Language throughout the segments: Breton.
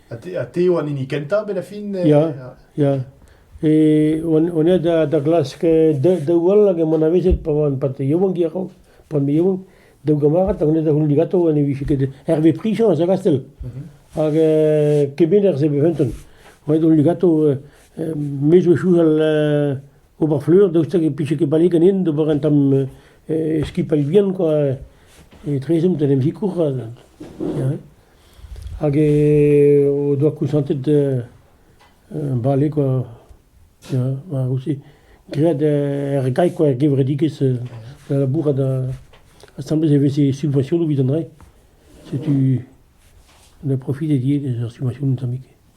Ha te eo an hini kentañ bet a fin? Ya, ya. E on aet da glask daou all hag emaon avezet pa oan pat yaouank a-raok, pan me yaouank. Daou gamarad hag on da c'houldi gato ha ne vije ket Hervé Prichans a Gastel. Hag kemener se be fenton. Oet on gato, me zo chouchal Ober fleur, daoust hag e pije ket bale ganin d'ober un tamm skipailh vihan kwa, etrezomp d'en em sikour hag o doa koñsantet bale kwa, ya war aussi graet er gae kwa, er gevredigezh da labourat asambles e veze subvensionoù evit an drae, setu da profit e die eus ar subvensionoù tammig.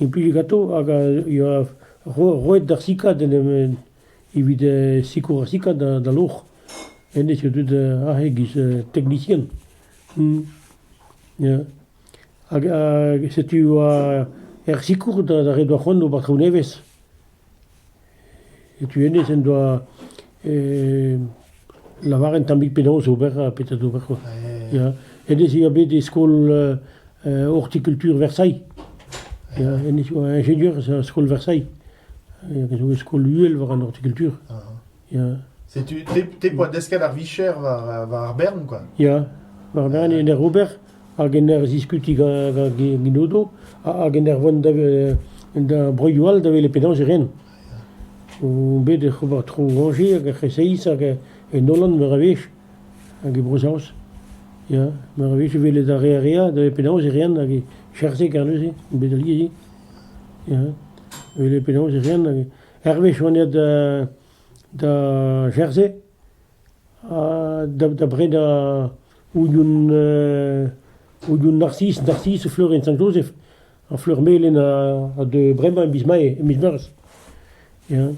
Implij ganto hag a yoa roet d'ar sikad en em evit sikour ar sikad da loc'h. Hennezh eo deuet aze e-giz teknisien. Ya hag setu e oa er sikour da re doa c'hoant d'ober traoù nevez. Setu hennezh en doa lavaret un tammig penaos ober ha petra d'ober quoi. Ya, hennezh e oa bet e skol hortikultur Versailles. Ya, hennezh a oa ingenieur er skol Versailles. Hag a zo e skol uhel war an hortikultur. Setu te poa desket ar vicher war ar bern, quoi. Ya, war bern en ur ober hag en ur ziskuti gant Odo hag en ur vont da broioù all da welet penaos e ren. Bet ec'h ober tro Angers hag ec'h essaïs hag en Holland meur a wech hag e Bro-Saoz. Ya, meur a wech e welet ar re a rea da penaos e ren hag e cherzhe kar neuze, bet alies. Ya, welet penaos e ren hag hervez on aet da Jersey da bred Union Union Narcisse Narcisse Fleuren Sant-Jozef ha Fleur-Melen ha de bremañ e miz Mae e miz Meurzh ya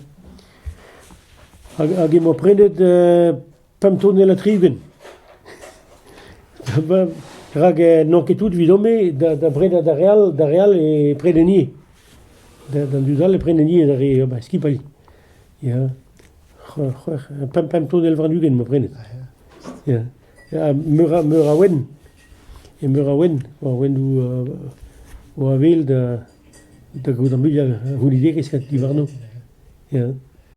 hag emañ prenet pemp tonellad triven. Rak n'on ket tout evidon-me da brenañ d'ar re all, d'ar re all e prenen ivez. D'an dud all e prenen ivez d'ar re skipailh. Ya. Pemp pemp tonnell warn-ugent 'ma prenet. Ya. Meur a meur a ouenn. E meur a ouenn. War ouennoù o avel da da gaout ar muiañ a vonidigezh diwarno. Ya.